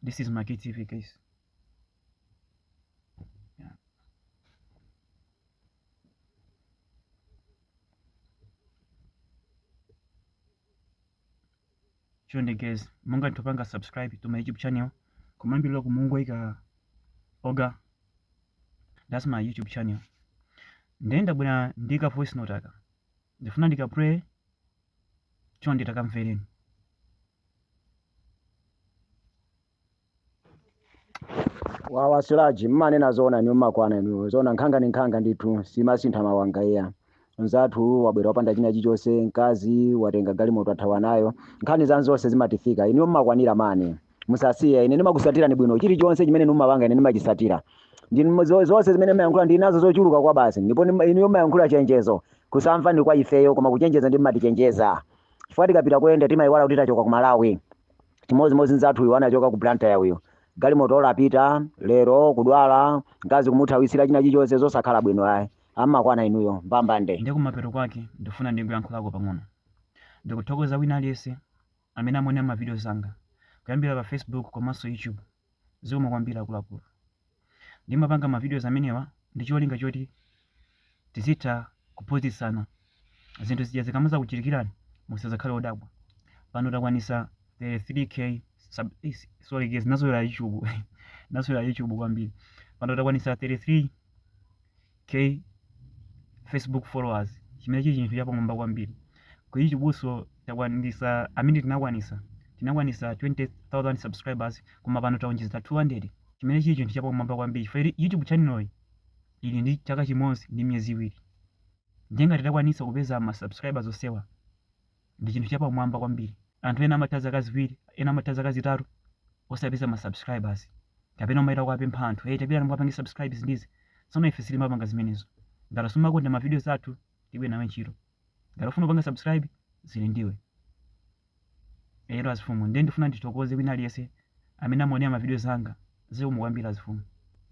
this is my KTV guys chonde guys munga topanga subscribe to my youtube channel kumambi loko mungu ika oga that's my youtube channel ndenda bwana ndika voice note aka ndifuna ndika pray chonde takamvereni wawa silaji mmanena zoona inuyo mmakwana inuyo zoona nkhanga ni nkhanga ndithu siimasintha mawanga iya nzathu wabwera wapanda china chilichonse mkazi watenga galimoto athawa nayo nkhani zanuzo zonse zimatifika inuyo mmakwanira mani musasiye ine ndimakusatirani bwino chinachilichonse chimene inu mumapanga ine ndimachisatira Ndi- mu- zo- zonse zimene mmayankhula ndili nazo zochuluka kwa basi ndipo ndima- inuyo mmayankhula chenjezo kusamva ndi kwa ifeyo koma kuchenjeza ndi mmatichenjeza chifukwa tikapita kuyenda timayiwala kuti tachoka ku malawi chimodzimodzi nzathu uyu anachoka ku blantyre uyu galimoto olapita lero kudwala mkazi kumuthawisira china chilichonse zosakhala bwino ayi mmakwana inuyo mbambande ndi kumapeto kwake ndifuna ndingoyankhulako pang'ono ndikuthokoza wina aliyense amene amaonera ma videos anga kuyambira pa Facebook komanso YouTube zikomo kwambiri akuluakulu. Ndimapanga ma videos amenewa ndi cholinga choti tizitha kuphunzitsana zinthu zija zikamazakuchitikirani musazakhale odabwa. Pano takwanisa 33k sub eh, sorry guys nazolowera YouTube nazolowera YouTube kwambiri. Pano takwanisa 33 K Facebook followers chimene chili chinthu chapamwamba kwambiri ku YouTube-nso takwanisa amene tinakwanisa tinakwanisa 20000 subscribers koma pano taonjeza 200 chimene chili chinthu chapamwamba kwambiri chifukwa ili- YouTube channel iyi ili ndi chaka chimodzi ndi miyezi iwiri nde ngati titakwanisa kupeza ma subscribers onsewa ndi chinthu chapamwamba kwambiri. Anthu ena amatha zaka ziwiri, ena amatha zaka zitatu osapeza ma subscribers. Kapena umayenda kuwapempha anthu, hey tapitani mukapange subscribe izi ndi izi. Tsono ife sitimapanga zimenezo. Ngati sumakonda ma videos athu, tilibe nawe ntchito. Ngati ufuna kupanga subscribe, zili ndiwe. Ero azifumu, ndiye ndifuna ndithokoze wina aliyense amene amaonera ma videos anga. Zikomo kwambiri azifumu.